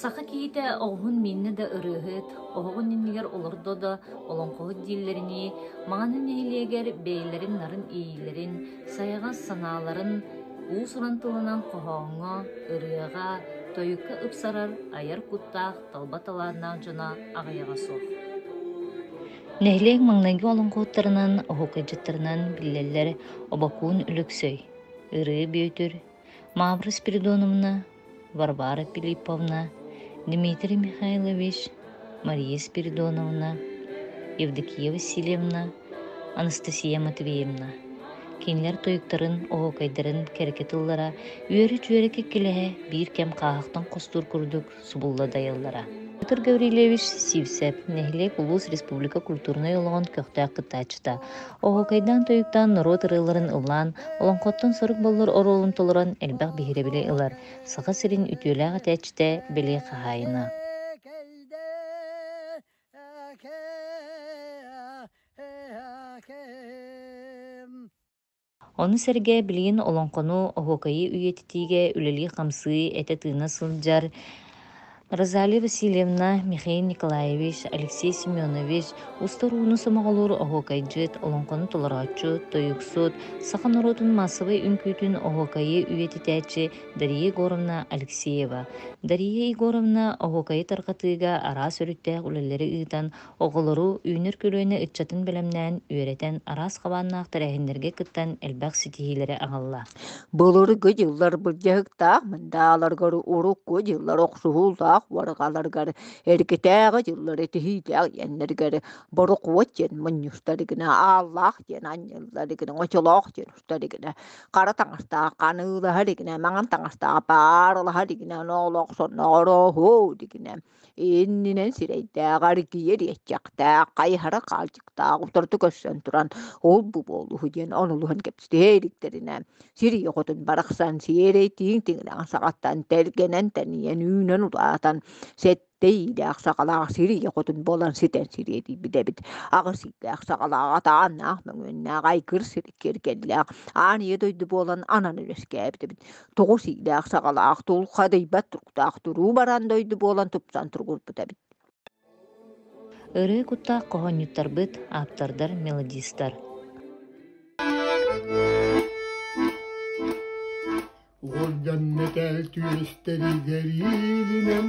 Саха киһитэ оҕуһун мииннэ да ырыаһыт, оһоҕун иннигэр олордо да олоҥхоһут дииллэринии, маҕаһыын нэһилиэгэр бэйэлэрин нарын иэйиилэрин, сайаҕас санааларын уус-уран тылынан хоһооҥҥо, ырыаҕа, тойукка ыпсарар айар куттаах талба талааннаах дьоно аҕыйаҕа суох Нэһилиэк маҥнайгы олоҥхоһуттарынан, оһуокайдьыттарынан биллэллэр Обокуун Өлөксөй, Ырыа Бүөтүр, Маабыр Спиридоновна, Варвара Филипповна, Дмитрий Михайлович, Мария Спиридоновна, Евдокия Васильевна, Анастасия Матвеевна. Кинилэр туйуктарын, оһуокайдарын кэрке тыллара үөрү-чүөрэ киккилэһэ биир кэм хааһахтан хостуур курдук субулла дайыллара. Петр Гаврильевич Сивцев, нэһилиэк улуус республика культурнай олоҕун көхтөөх кыттааччыта, Оһуокайдаан-тойуктаан норуот ырыаларын ыллаан, олоҥхоттон сорук боллор оруолун толорон элбэх биһирэбили ылар Саха сирин үтүөлээх этээччитэ Бэлиэ хаһаайына. Ону сэргэ билигин олоҥхону, оһуокайы үйэтитиигэ үлэлии-хамсыы, этэ-тыына сылдьар Розалия Васильевна, Михаил Николаевич, Алексей Семенович, устар ууну сомоҕолуур оһуокайдьыт, олоҥхону толорооччу, тойуксут, саха норуотун маассабай үҥкүүтүн оһуокайы үйэтитээччи Дария Егоровна Алексеева. Дария Егоровна оһуокайы тарҕатыыга араас өрүттээх үлэлэри ыытан, Оҕолору үүнэр көлүөнэ ыччатын бэлэмнээн, үөрэтэн, араас хабааннаахтар эһиннэргэ кыттан элбэх ситиһиилэри аҕалла. Былыргы дьыллар былдьаһыктаах мындааларгар урукку дьыллар охсуһуулаах уорҕаларгар эргитээҕи дьыллар этиһиилээх диэннэргэр борокуот диэн мунньустарыгына ааллаах диэн анньылларыгына очолоох диэн устарыгына хара таҥастаах ханыылаһарыгына маҥан таҥастаах паарылаһарыгына оноолох сонноорооһуу дигинэ иннинэн сирэйдээҕэр киир иэччэхтээх, хайыһара хаалчыктаах утарыта көрсөн туран ол-бу буолуһу диэн онулуһан кэпсэтэ иликтэринэ сирии хотун барахсан сиэрэй тииҥ тиҥилэҕин саҕаттан тэлгэнэн тэнийэн үүнэн улаатан сэттэ иилээх саҕалаах сирии хотун буолан ситэн сириэтий билэбит аҕысыйдаах саҕалаах атааннаах мөҥүөннээх айгыр сир киэргэллээх аан ийэ дойду буолан анан үөскээбит эбит тоҕус иилээх саҕалаах тулха дэйбэт туруктаах туруу баран дойду буолан тупсан тургурбут эбит ырыы куттаах хоһоонньуттарбыт ааптардар мелодистар Голден мэтээл түөстэригэр иилинэн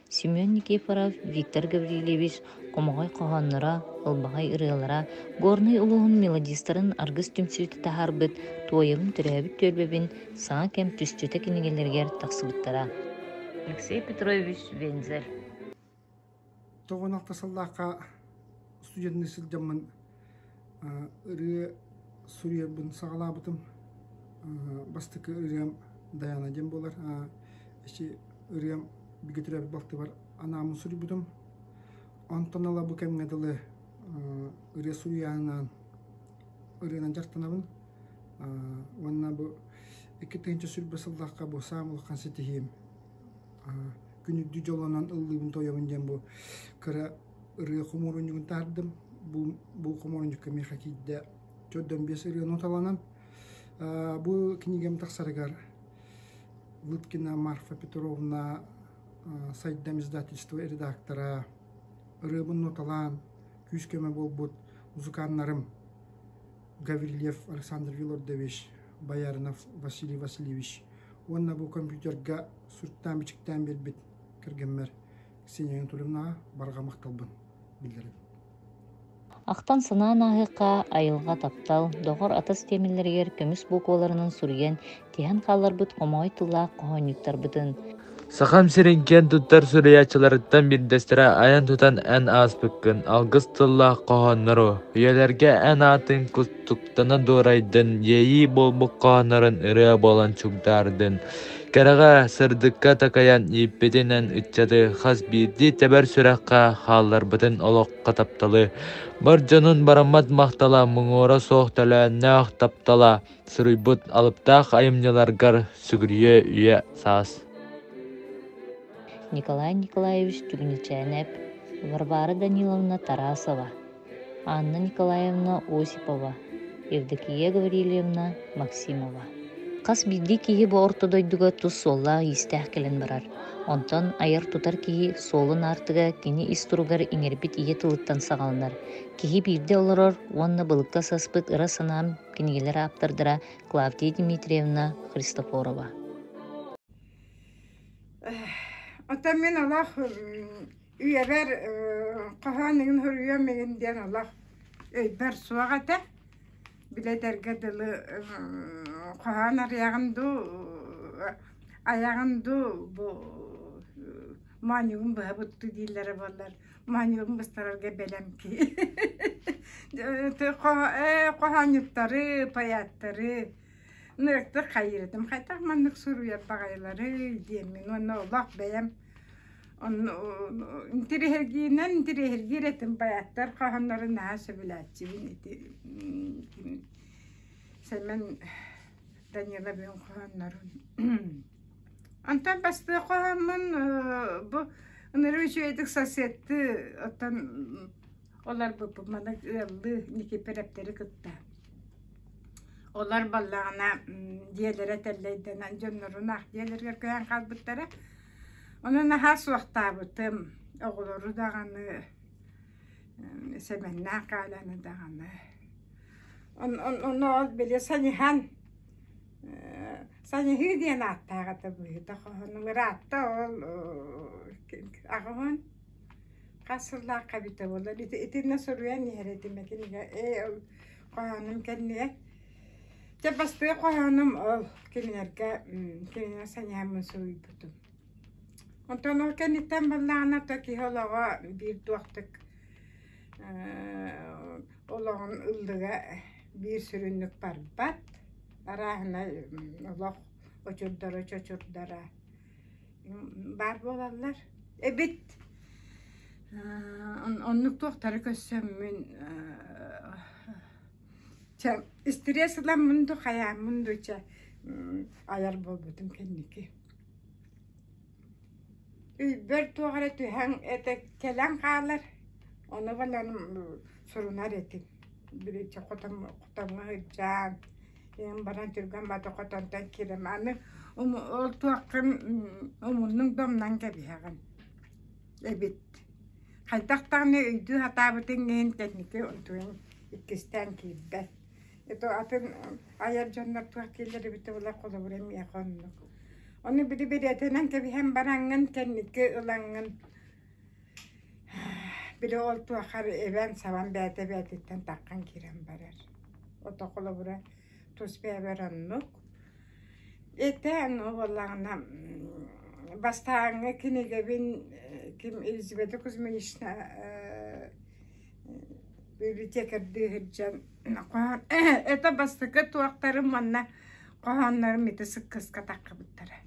Семен Никифоров, Виктор Гаврильевич хомоҕой хоһоонноро, ылбаҕай ырыалара, Горнай улууһун мелодистарын аргыс түмсүүтэ таһаарбыт «Туойабын төрөөбүт түөлбэбин» саҥа кэм түсчүтэ кинигэлэригэр тахсыбыттара. Алексей Петрович Вензель Тоҕуонахта сыллаахха студенный сылдьаммын ырыа суруйарбын саҕалаабытым. бастакы ырыам Дайана диэн буолар. эчи ырыам бигэ төрөөбүт балтыбар анаамын суруйбутум. Онтон ыла бу кэмҥэ дылы ырыа суруйааннаан ырыанан дьарыктанабын. уонна бу икки тыһыынча сүүрбэ сыллаахха бу саам улахан ситиһиим. күн үрдүү дьолунан ыллыыбын-тоойобун диэн бу кыра Ырыа хомуурунньугун таһаардым. Бу бу хомуурунньукка миэхэ киирдэ төрт уон биэс ырыаны уталанан бу кинигэм тахсарыгар Лыткина Марфа Петровна Сайдам издательство редактора ырыабын ноталаан күүс-көмө буолбут музыканнарым Гаврильев Александр Вилордович, Бояринов Василий Васильевич уонна бу компьютерга суруктаан-бичиктээн биэрбит кэргэммэр синьэйэн турунаа барҕа махталбын биллэрэбин ахтан санаан ааһыахха айылҕа таптал доҕор атас тиэмэлэригэр көмүс букваларынан суруйан тиһэн хааларбыт хомоҕой тыллаах хоһоонньуттарбытын Сахам сирин киэн туттар суруйааччыларыттан биирдэстэрэ айан тутан эн ааспыккын алгыс тыллаах хоһооннору үйэлэргэ эн аатын кустук Тана дуорайдын, иэйии буолбуккоонорун ырыа буолан чугдаардын. Кэрэҕэ сырдыкка такайан ииппитинэн ыччаты хас биирдии тэбэр сүрэххэ хаалларбытын олоххо тапталы. Бар дьонун бараммат махтала муҥуора суох төлөөннөөх таптала суруйбут алыптаах айымньыларгар сүгүрүйэ үйэ саас. Николай Николаевич Түгничээнэп, Варвара Даниловна Тарасова анна николаевна осипова евдокия гаврильевна максимова хас биирдии киһи бу орто дойдуга тус суоллаах-иистээх кэлэн барар онтон айар-тутар киһи суолун аартыга кини ис туругар иҥэрбит ийэ тылыттан саҕаланар киһи биирдэ олорор уонна былыкка саспыт ыра санаам кинигэлэр ааптардара клавдия дмитриевна христофорова оттон мин олох Үйэбэр хоһоон ыйын хоруйуом игин диэн олох өйбөр суох этэ. Били этэргэ дылы хоһоон арыйаҕын дуу, айаҕын дуу бу моонньугун быһа бутту дииллэрэ буоллар моонньугун быстарарга бэлэм кии. Хоһоонньуттары, поэттары ынырыктык хайырытым. Хайтах маннык суруйар баҕайылары диэммин уонна олох бэйэм Интириэһиргиинэн интириэһиргиир этим байаттар хаһоннорун наһаа сөбүлээччибин ити Сэмэн Даниловын хоһооннорун Онтон бастыы хоһоммун бу ынырыы үчүгэйдик соседты оттон олорбуппут маннык ыаллыы Никиперэптэри кытта олор баллаҕына дьиэлэрэ тэллэйдэнэн дьоннорун аах дьиэлэригэр көһөн хаалбыттара Ону наһаа суохтаабытым, оҕолору даҕаны, Сэмэннээх Галяны даҕаны. Он, он, ону ол били саньыһан, саньыһыы диэн ааттаах этэ быһыыта хоһун. Ыраатта ол аҕабын хас сыллаахха эбитэ буоллар итиннэ суруйан иһэр этим этим ээ ол хоһоонум кэннигэр Дьэ бастыҥ хоһоонум ол кинилэргэ кинилэр сэниэммин суруйбутум. Онтон ол кэнниттэн буоллаҕына то киһи олоҕо биир туохтук олоҕун ыллыга биир сүрүннүк барбат. Арааһынай олох очурдара чочурдара баар буолаллар. Эбит оннук туохтары көрсөммүн Чэ, истириэс ыламмын дуу, хайааммын дуу чэ айар буолбутум кэнники. Өйбөр туох эрэ түһэн этэ кэлэн хаалар, ону гынан сурунар этим. Бириччэ хотон хотоҥҥо сылдьаан, ийэм баран түргэн бата хотонтон киирэн аны ол туоххун омуннук да умнан кэбиһэҕин эбит. Хайдах даҕаны өйдүү сатаабытыҥ иһин кэнники иккистээн киирбэт. Ито атын айар дьоннор туох киллер эбитэ булар холобура миэхэ оннук. Ону били билетинэн кэбиһэн бараҥҥын кэнники ылаҥҥын били ол туохар эбэн сабан бэйэтэ бэйэтиттэн таххан киирэн барар. Ото холобура тус бэйэбэр оннук. Этэн ол буоллаҕына бастааҥҥы кинигэбин ким Елизавета Кузьминична Библиотекарьдыы сылдьан хоһоон это бастакы туохтарым манна хоһооннорум ити сыккыска таххыбыттара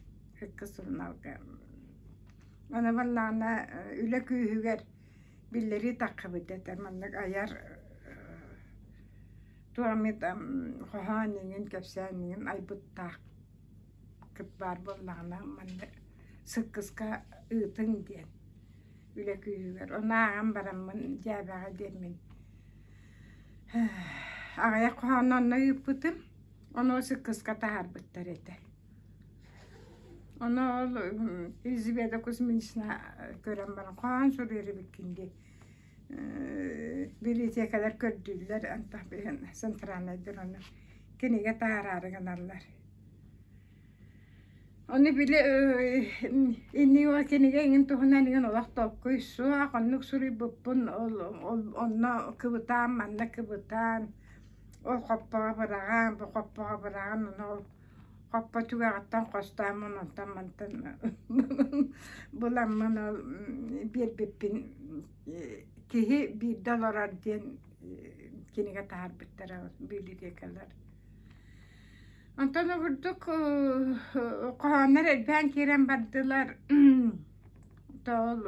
ыкка суруналга аны барылаана үлэ күүһүгэр биллэрии таххыбыт этэр маннык айар туох эмит хоһоон иҥин кэпсээн иҥин айбыттааххыт баар буоллаҕына манна сыккыска ыытыҥ диэн үлэ күүһүгэр. Оны ааҕан бараммын дьээбэҕэ диэммин аҕыйах хоһоон онно ыыппытым. Ону сыккыска таһаарбыттар этэ. Ону ол Эльзабета Кузьминична көрөн баран хоһоон суруйар эбиккин дии библиотекалар көрдүүллэр антах центральнайдар ону кинигэ таһаараары гыналлар Ону били иннигиэҕэ кинигэ эҥин туһунан эҥин олох толкуй суох, оннук суруйбуппун ол онно кыбытаан, манна кыбытаан, ол хоппоҕо быраҕаан, бу хоппоҕо быраҕан ону ол хоппо түгэҕиттэн хостооммун онтон мантан буламмын ол биэрбиппин киһи биирдэ олорор диэн кинигэ таһаарбыттара билбиэкэлэр Онтон обурдук хоһооннор элбээн киирэн бардылар. Тоол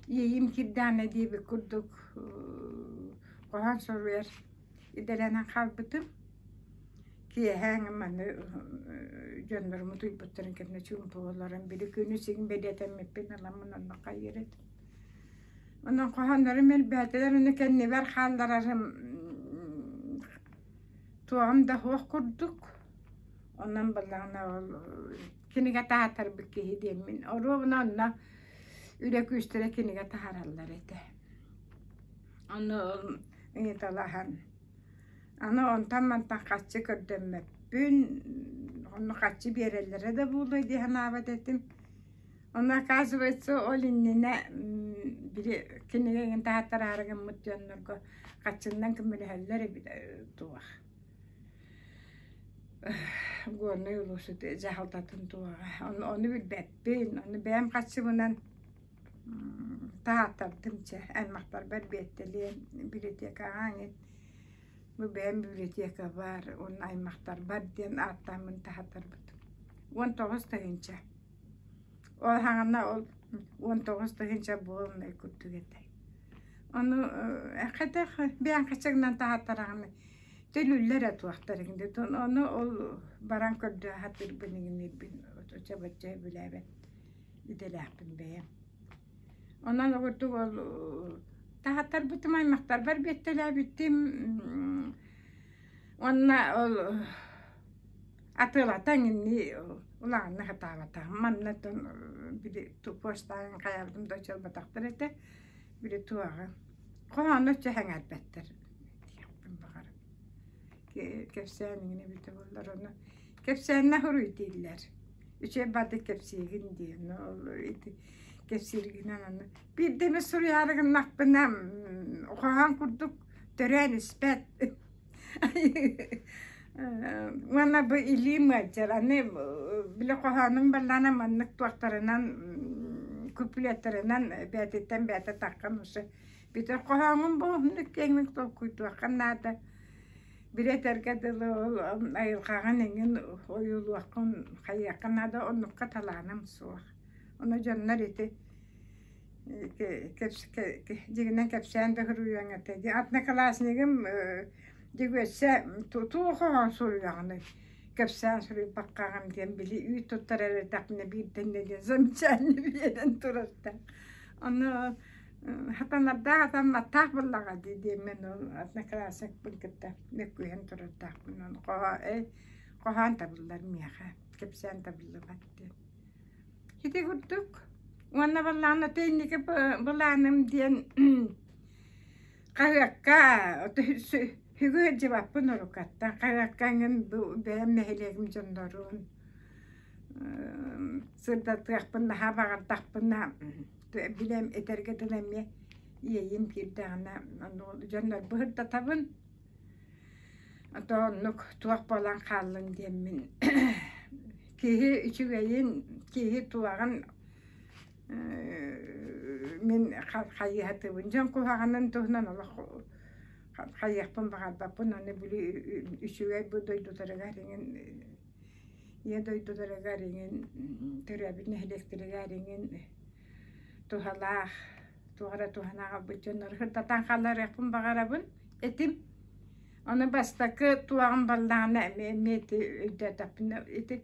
иэйим кирдээнэ диэбит курдук хоһоон суруйар идэлэнэн хаалбытым. Киэһээҥ маны дьоннорум утуйбуттарын кэннэ чуумпулаларын били күнү син бэлиэтэммиппин аламмын онно хайыыр этим. Онон хоһооннорум элбээтилэр, ону кэннибэр хаалларарым туоһум да суох курдук онон буоллаҕына ол кинигэт аһатарбыт киһи диэммин оруобуна онно үлэ күүстэрэ кинигэ таһараллар этэ ону ыйыталаһан аны онтон мантан хаччы көрдөммөппүн онно хаччы биэрэллэрэ да буолуой дии санаабат этим Ону оказывается, ол иннинэ били кинигэ эҥин таһаттараары гыммыт дьоннорго хаччыннан көмөлөһөллөр эбит туох горный улуусут дьаһалтатын туоҕа ону билбэппин ону бэйэм хаччыбынан таһааттардым чэ аймахтарбар биэттэлиэн библиотекаҕа ангин бу бэйэм библиотека баар уонна аймахтарбар диэн ааттааммын таһаттарбытым уон тоҕус тыһыынча Ол хаана ол уон тоҕус тыһыынча буолунай курдук этэ. Ону хайдах бээнкачыгынан таһаттараҕыны төлүүллэр этуохтарыгын да ону ол баран көрдө сатыырбын игиниирбин оччобоччо өбүлээбэт идэлээхпин бэйэм. Онон огурдук ол таһаттарбытым аймахтарбар биэттэлээбиттим уонна ол Атыылатан инни улаанна хатаабата. Маннатан били туппуостаан хаябытым да чылбатахтар этэ. Били туаҕа. Хоһоону өччө хаңарбаттар диэхпин баҕар. Кэпсээн иҥин эбитэ буоллар ону. Кэпсээннэ хоруй дииллэр. Үчэ бады кэпсиигин диэн. Ол ити кэпсииргинэн аны. Биирдэ эмэ суруйаарыгыннахпына хоһоон курдук төрөөн испэт. Манна бу илии мыаччар, аны били хоһоонум баллаана маннык туохтарынан куплеттарынан бээтиттэн бээтэ таххан уши бүтэр хоһооҥум бу оннук кеңник толкуйдуоххан наада билетэргэ дылы ол айылҕаҕын эҥин ойуулуоххун хайыахха наада оннукка талааным суох ону дьоннор ити дьигинэн кэпсээн да суруйуоҥ этэ дии однокласснигым дьигүөссе туох оҕо суруйаҕыный кэпсээн суруйбаккаҕым диэн били үүт туттар эрэрдэхпинэ биирдэннэ диэн замечание биэрэн турарда ону хатанардаах атамматтаах буоллаҕа дии диэммин ол одноклассникпын кытта мөккүһэн турардаахпын ону хоһо эй хоһоон табыллар миэхэ кэпсээн табыллыбат диэн Ити курдук уонна баллаана тэнники былааным диэн хаһыакка сүгү сылдьыбаппын уруккаттан хаһыакка эҥин бэйэм нэһилиэгим дьоннорун сырдатыахпын наһаа баҕардахпына билэн этэргэ дылы эмиэ иэйиим киирдэҕинэ дьоннорбу сырдатабын то оннук туох буолан хааллыҥ диэммин киһи үчүгэйин киһи туһаҕын мин хайыһатыыбын дьон куһаҕанын туһунан олох хайыахпын баҕарбаппын аны били үчүгэй бу дойдутарыгар иҥин ийэ дойдутарыгар иҥин төрөөбүт нэһилиэктэригэр иҥин туһалаах туох эрэ туһанааҕа быт дьоннору сырдатан хааларыахпын баҕарабын этим. Ону бастакы туоҕум баллаҕана эмиэ эмиэ ити өйдөөтөхпүнэ ити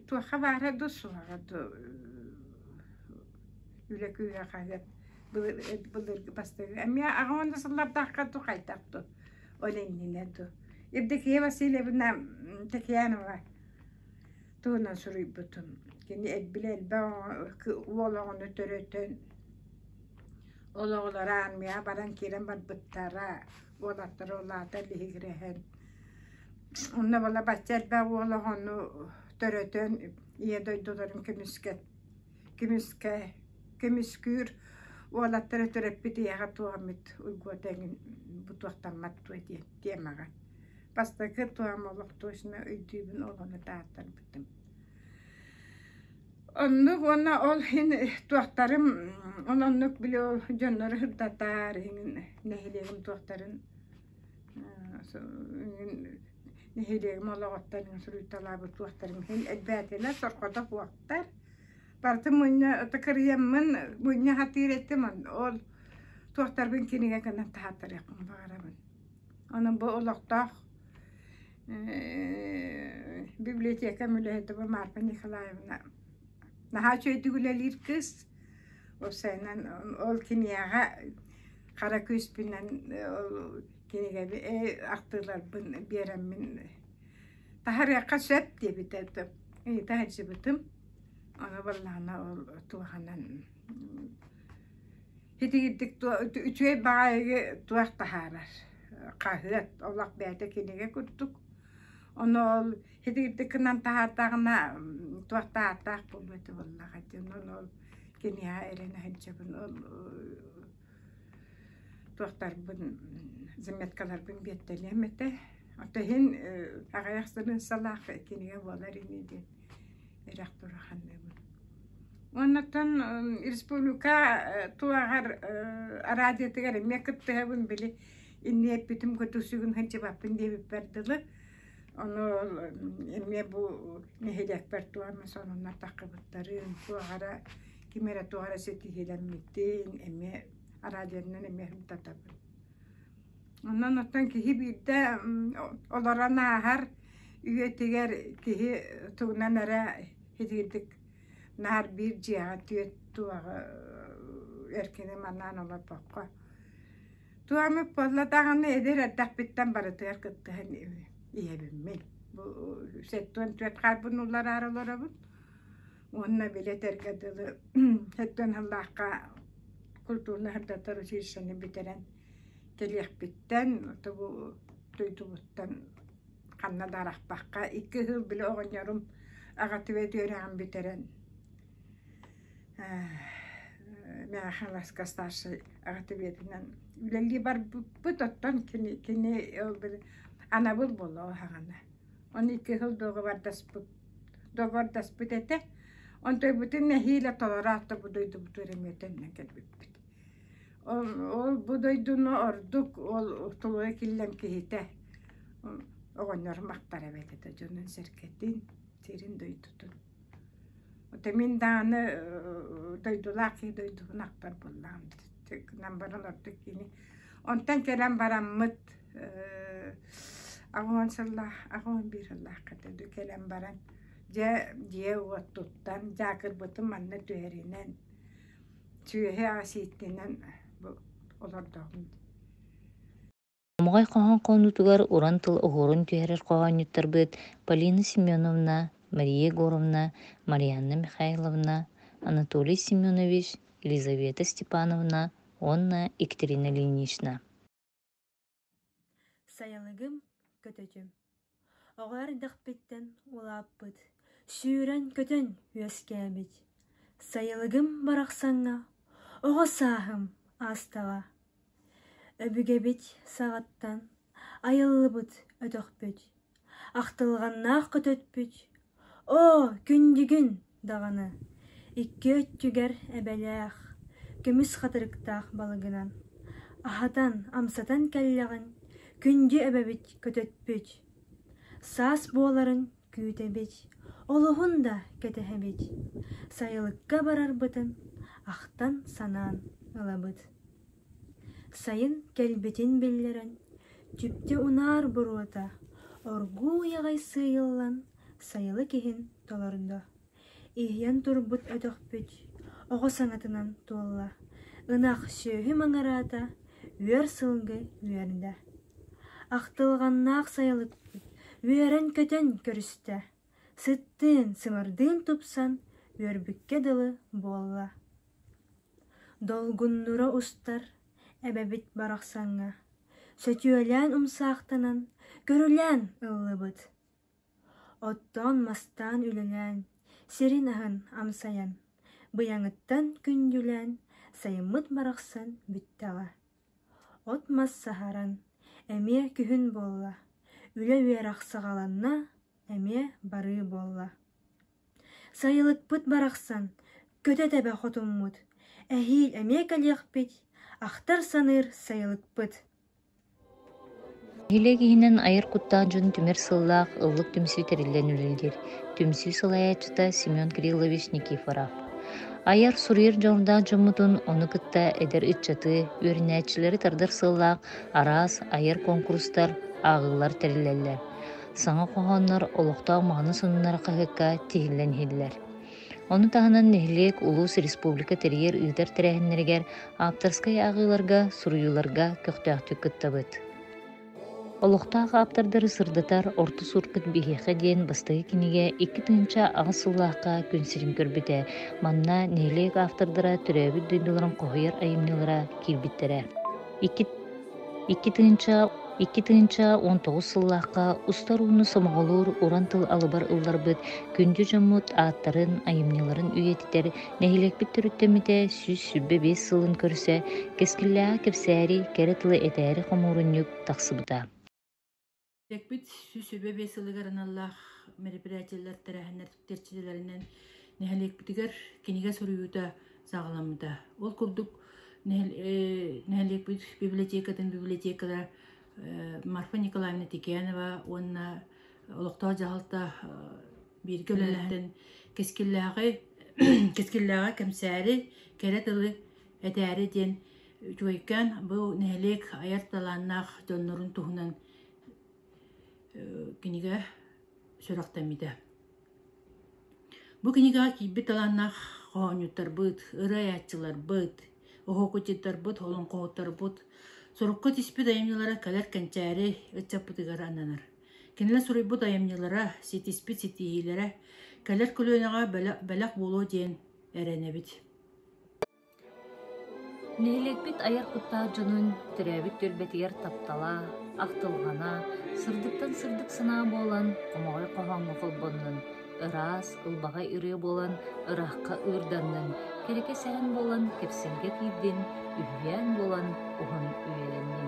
туохха баара дуу суоҕа дуу үлэ кыыһа хаһыат былыргы бастакы эмиэ аҕа уонна сыллардаахха дуу хайдах дуу ол иннинэ дуу Евдокия Васильевна Текянова туһунан суруйбутум. Кини элбилэ элбэх уол оҕону төрөтөн, ол оҕолоро армияҕа баран киирэн барбыттара, уолаттара улаата лиһигирэһэн. Онно бала бачча элбэх уол оҕону төрөтөн, ийэ дойдуларын көмүскэ көмүскэ көмүскүүр уолаттары төрөппүт ийэҕэ туох эмит уйгуота эҥин бутуохтаммат дуо диэн тиэмэҕэ Бастакы туһам олох точно өйдүүбүн олону тааттарбытым. Оннук уонна ол иһин туохтарым он оннук били ол дьоннору ырдатар иһин нэһилиэгим туохтарын нэһилиэгим олоҕуттан суруйталаабыт туохтарым иһин элбээтилэр сорҕото буолтар барыта мунньа ото кырыйаммын мунньа сатыыр этим ол туохтарбын кинигэ гынан таһаатарыахпын баҕарабын Аны бу олохтоох библиотекам үлэһитэ Маарпа Николаевна наһаа үчүгэйдик үлэлиир кыыс. Ол сайынан ол кинигэҕэ хара күүспүнэн ол кинигэби ахтыыларбын биэриммин таһарыахха сөп диэбитэ таһырдьыбытым. Ону барылаана ол туһанан Итигирдик туо үчүгэй баҕайыгы туох таһаарар. Хаһыат олох бэйэтэ кинигэ курдук. Ону ол итигирдик гынан таһаартаҕына туох таһаартаах буолуо этэ буоллаҕа диэн ону ол киниэхэ эрэнэ сылдьабын ол туохтарбын заметкаларбын биэртэлиэм этэ. Оттон иһин аҕыйах сырыынсалаах кинигэ буолар ини диэн Эрэх тура ханныыбын. Оннуттан республика туоҕар араадьытыгар эмиэ кыттыһабын били инньэ эппитим кутусугун сылдьыбаппын диэбиппэр дылы ону эмиэ бу нэһилиэкпэр туонна сонуннартаккыбыттарын туоҕара ким эрэ туоҕара ситиһиилэммитин эмиэ араадьыйанан эмиэ хомтотобун Онон оттон киһи биирдэ олорон ааһар үйэтигэр киһи тугунан эрэ итиитик наар биир дьиэҕэ түөрт туоҕу эркини манаан олорбокко туох эмит буолла даҕаны эдэр эрдэхпиттэн барытыгар кыттыһан ийэбиммин бу сэттиэн түөрт хаалбын уулараары олоробун уонна били этэргэ дылы сэттиэн сыллаахха культуурно-сырдаттар училищены бүтэрэн Тэлиэхпиттэн, тобу дойдубуттан ханна да арахпакка икки кыһыл били оҕонньорум аҕатыбыт үөрэҕин бүтэрэн миэхэ Халаска старшай аҕатыбыатынан үлэлии барбыппыт, оттон кини кини ол били анабыл буолуо саҕана. Ону икки кыһыл дуогабардаспыт дуогабардаспыт этэ. Онтойбутун нэһиилэ толороот тобу дойдубуту эрэ мүөтэннэн кэлбиппит Ол-бу дойдуну ордук ол тулуйа киллэн киһитэ оҕонньорум ахтар эбит этэ дьонун-сэргэтин, сирин дойдутун. Ото мин даҕаны дойдулаах киһи дойдубун ахтар буоллаҕым гынан баран ордук кини онтон кэлэн бараммыт аҕа уон сыллаах аҕа уон биир сыллаахха дойду кэлэн баран дьэ дьиэ-уот туттан дьаакырбытын манна түһэринэн сүөһү-аас ииттинэн олордоҕум Амҕай хоһоон хоонньутугар уран тыл оһуорун түһэрэр хоһоонньуттарбыт Полина Семеновна, Мария Егоровна, Марианна Михайловна, Анатолий Семенович, Елизавета Степановна уонна Екатерина Ильинична Сайылыгым, көтөтүм, оҕо эрдэхпиттэн улааппыт, сүүрэн-көтөн үөскээбит сайылыгым барахсаҥҥа оҕо сааһым аастаҕа. Өбүгэбит саҕаттан айыллыбыт өтөхпүт Ахтылҕаннаах көтөппүт «Оо, күндүгүн» даҕаны икки өттүгэр эбэлээх, көмүс хатырыктаах балыгынан аһатан, амсатан кэллэҕин күндү эбэбит көтөппүт. Саас буоларын күүтэбит, олуһун да кэтэһэбит, сайылыкка барарбытын ахтан-санаан ылабыт Сайын кэлбитин биллэрэн, чүпчэ унаар боруота оргууй аҕай сыыйыллан сайылык иһин толордо, иһийэн турбут өтөхпүт оҕо саҥатынан туолла, ынах сүөһү маҥыраата, үөр сылгы үөрдэ, ахтылҕаннаах сайылыкпыт үөрэн-көтөн көрүстэ Сыттыын, сылардыын тупсан, үөрбүккэ дылы буолла Долгуннура устар эбэбит барахсаҥҥа Сөтүөлээн умсаахтанан, көрүлээн ыллыбыт. Оттоон-мастаан үлэлээн, сирин аһын амсайан, быйаҥыттан күндүлээн сайыммыт барахсан бүттэҕэ. От-мас саһаран, эмиэ күһүн буолла, үлэ үөрэх саҕаланна, эмиэ барыы буолла сайылыкпыт барахсан көтө тэбэ хотуммут эһиил эмиэ кэлиэхпит ахтар саныыр сайылыкпыт нэһилиэк иһинэн айар куттаах дьон түмэр сыллаах ыллык түмсүү тэриллэн үлэлиир түмсүү салайааччыта семен кириллович никифоров айар-суруйар дьоҕурдаах дьоммутун ону кытта эдэр ыччаты үөрэнээччилэри тардар сыллаах араас айар конкурстар ааҕыылар тэриллэллэр Саҥа хоһооннор олохтоох маҕаны сонуннар хаһыакка тиһиллэн иһиллэр. Ону таһынан нэһилиэк, улуус, республика тэрийэр ыытар тэрээһиннэригэр, ааптарскай ааҕыыларга, суруйууларга көхтөөхтүк кыттабыт. Олохтоох ааптардары сырдатар Орто Суркут биһиэхэ диэн бастакы кинигэ икки тыһыынча аҕыс сыллаахха күн сирин көрбүтэ. Манна нэһилиэк автордара төрөөбүт дойдуларын хоһуйар айымньылара киирбиттэрэ. Икки Икки тыһыынча Икки тыһыынча уон тоҕус сыллаахха устар ууну сомоҕолуур уран тыл алыбар ылларбыт күндү дьоммут ааттарын, айымньыларын үйэтитэр нэһилиэкпит төрүттэммитэ сүүс сүүрбэ биэс сылын көрсө кэскиллээҕи кэпсээри, кэрэ тылы этээри хомуурунньук тахсыбыта. Эппит сүүс сөбө биэс сылыгар аналлаах мероприятиелар тэрээһиннэр тэрчилэринэн нэһилиэкпитигэр кинигэ суруйуута саҕаламмыта. Ол курдук нэһилиэкпит библиотекатын библиотекара Марфа Николаевна Текянова уонна олохтоох дьаһалта бииргэ үлэлэһэн кэскиллээҕи кэскиллээҕи кэмсээри кэрэ тылы этээри диэн үчүгэйкээн бу нэһилиэк айар талааннаах дьоннорун туһунан кинигэ сүрэхтэммитэ. Бу кинигэҕэ киирбит талааннаах хоһоонньуттарбыт, ырыайааччыларбыт, оһуокуччуттарбыт, олоҥхоһуттарбыт сурукка түспүт айымньылара кэлэр кэнчээри ыччаппытыгар ананар. Кинилэр суруйбут айымньылара, ситиспит ситиһиилэрэ кэлэр көлүөнэҕэ бэлэх буолуо диэн эрэнэбит. Нэһилиэкпит айар куттаах дьонун төрөөбүт түөлбэтигэр таптала, ахтылҕана, сырдыктан сырдык санаа буолан, хомоҕой хоһооҥҥо холбоннун, ыраас, ылбаҕай ырыа буолан, ыраахха ыырданнын, кэрэкэ сэһэн буолан, кэпсэлгэ киирдин, үһүйээн буолан, уһун үөлэннин.